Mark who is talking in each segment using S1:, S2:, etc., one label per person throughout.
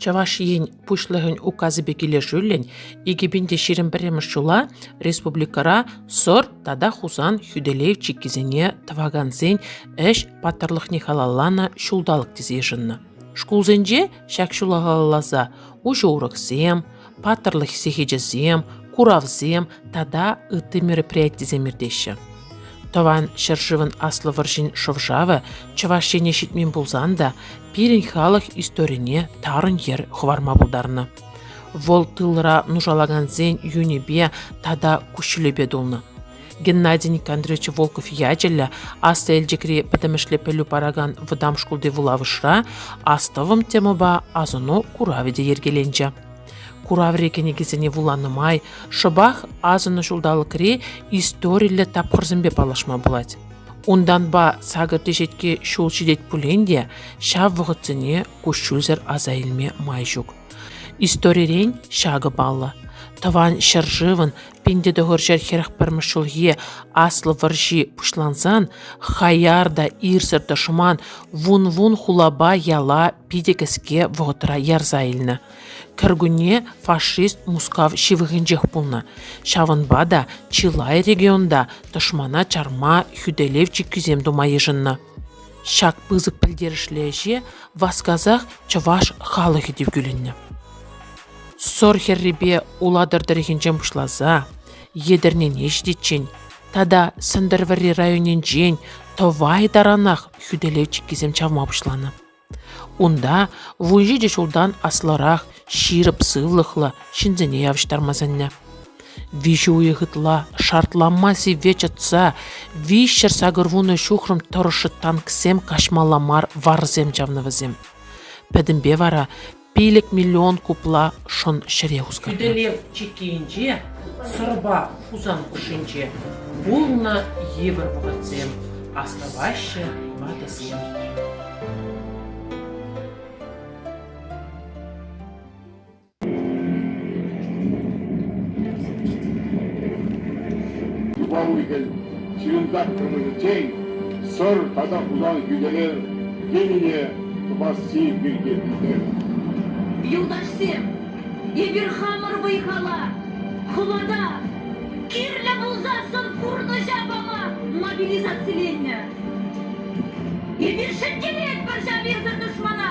S1: Чӑваш Ен Пуҫлӑхӗн Указӗпе килӗшӳллӗн икӗ пин те ҫирӗм пӗрремӗш ҫула республикӑра Сӑр тата Хусан хӳтӗлев чиккисене тӑвакансен ӗҫ паттӑрлӑхне халалланӑ ҫулталӑк тесе йышӑннӑ. Шкулсенче ҫак ҫула халалласа уҫӑ уроксем, паттӑрлӑх сехечӗсем, куравсем тата ытти мероприятисем иртеҫҫӗ. Тӑван ҫӗршывӑн Аслӑ вӑрҫин шӑв-шавӗ Чӑваш Ене ҫитмен пулсан та пирӗн халӑх историне тарӑн йӗр хӑварма пултарнӑ. Вӑл тылра нушалакансен юнӗпе тата куҫҫулӗпе тулнӑ. Геннадий Никандрович Волков ячӗллӗ Аслӑ Элчӗкри пӗтӗмӗшле пӗлӳ паракан вӑтам шкулти вулавӑшра Астӑвӑм темӑпа асӑну куравӗ те йӗркеленчӗ. Кураври кӗнекесене вуланӑ май шӑпах асӑннӑ ҫулталӑкри историллӗ тапхӑрсемпе паллашма пулать. Унтанпа сакӑр теҫетке ҫул ҫитет пулин те ҫав вӑхӑтсене куҫҫульсӗр аса илме май ҫук. Историрен ҫакӑ паллӑ. Тӑван ҫӗршывӑн Пин тӑхӑрҫӗр хӗрӗх пӗрмӗш ҫулхи Аслӑ вӑрҫи пуҫлансан хаяр та ирсӗр тӑшман вун-вун хулапа яла питӗ кӗске вӑхӑтра ярса илнӗ. Кӗркунне фашист Мускав ҫывӑхӗнчех пулнӑ. Ҫавӑнпа та чылай регионта тӑшмана чарма хӳтӗлев чиккисем тума йышӑннӑ. Ҫак пысӑк пӗлтерӗшлӗ ӗҫе васкасах чӑваш халӑхӗ те кӳлӗннӗ. Сор хӗррипе Улатӑр тӑрӑхӗнчен пуҫласа Етӗрнене ҫитиччен тата Сӗнтӗрвӑрри районӗнчен Тӑвай таранах хӳтӗлев чиккисем чавма пуҫланӑ. Унта вун ҫичӗ ҫултан аслӑрах ҫирӗп сывлӑхлӑ ҫынсене явӑҫтарма сӗннӗ. Виҫӗ уйӑх ытла шартланма сивве чӑтса виҫҫӗр сакӑрвунӑ ҫухрӑм тӑрӑшшӑ танксем каҫмалла мар варсем чавнӑ вӗсем. Пӗтӗмпе вара пилӗк миллион купла шӑн ҫӗре хускатнӑ. Хӳтӗлев чиккийӗнче Сӑрпа Хусан хушшинче пулнӑ йывӑр вӑхӑтсем астӑваҫҫӗ ватӑсем. Юпа уйхел ҫырӑнтарт кӑмӑлӗнчен Сӑр тата унан хӳтӗлев енӗне тӑвасси пирки пӗлтернӗ. Юлташсем, эпир хамӑр вӑй-хала, хӑвата кирлӗ пулсассӑн пурнӑҫа пама мобилизациленнӗ. Эпир шелкелетпӗр ҫав ирсӗр тӑшмана.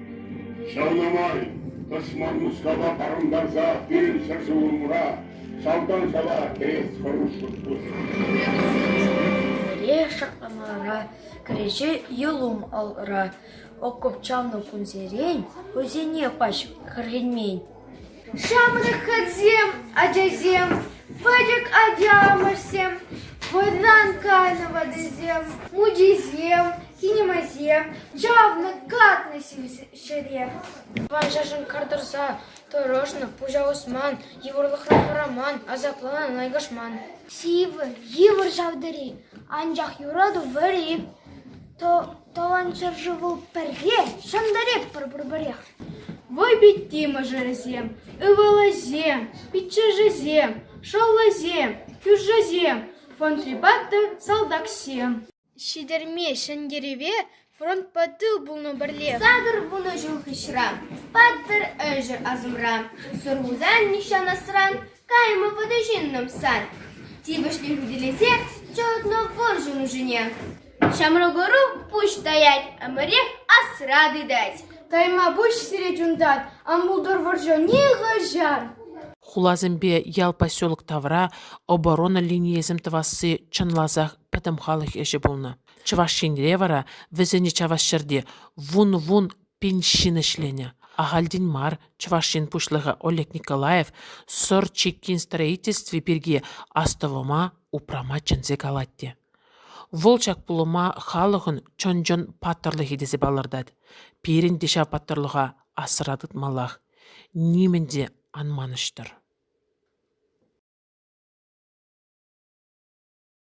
S1: Ҫавна май тӑшман Мускава парӑнтарса пирӗн ҫӗршывӑмӑра шалтан шала кӗрес хӑрушлӑх пур. Лешӗ Амара кӗреҫе Елум алра окоп чавнӑ кунсерен хӑйсене пач кӗреймен. Ҫамрӑк ачасем, ачасем, пӗчӗк аталанмӑшсем, вӑйран кайнӑ ватӑсем, мучисем, кинемасем чавнӑ, катнӑ ҫӗре. Ванҫӑшӑн кар тӑрса тӑрӑшнӑ, пуҫа усман, йывӑрлӑхра хӑраман, асапланан айкашман. Сивӗ, йывӑр ҫав тери, анчах юрату вӗри. Тӑван ҫӗршыву пӗрре ҫӑнтаретпӗр пурпӗрех. Вӑйпитти мӑшӑрӗсем, ывӑлӗсем, пиччӗшӗсем, шӑллӗсем, кӳршӗсем, фронтрипа та салтаксем. Ҫитерме ҫӗнтерӗве фронтпа тыл пулнӑ пӗрлех. Сакӑр вунӑ ҫул хыҫра, паттӑр ӗҫӗр асӑмра, Сурхусан нихҫан асран, Кайма пынӑ ҫыннӑм сан, тивӗҫлӗ хӳтӗлесе чӑтнӑ вӑрҫӑ нушине. Ҫамрӑк ӑру пуҫ таять, ӗмӗрех асра тытать. Кайма пуҫ сире чунтат, ан пултӑр вӑрҫӑ нихӑҫан. Хуласемпе ял поселок тавра оборона линийӗсем тӑвасси чӑнласах пӗтӗм халӑх ӗҫӗ пулнӑ. Чӑваш Енре вара вӗсене чавас ҫӗрте вун-вун Пин ҫын ӗҫленӗ. Ахальтен мар Чӑваш Ен Пуҫлӑхӗ Олег Николаев Сӑр чиккин строительстви пирки астӑвӑма упрама чӗнсе калать те. Вӑл ҫак пулӑма халӑхӑн чӑн-чӑн паттӑрлӑхӗ тесе палӑртать. Пирӗн те ҫав паттӑрлӑха асра тытмаллах. Нимӗн те ан манӑҫтӑр.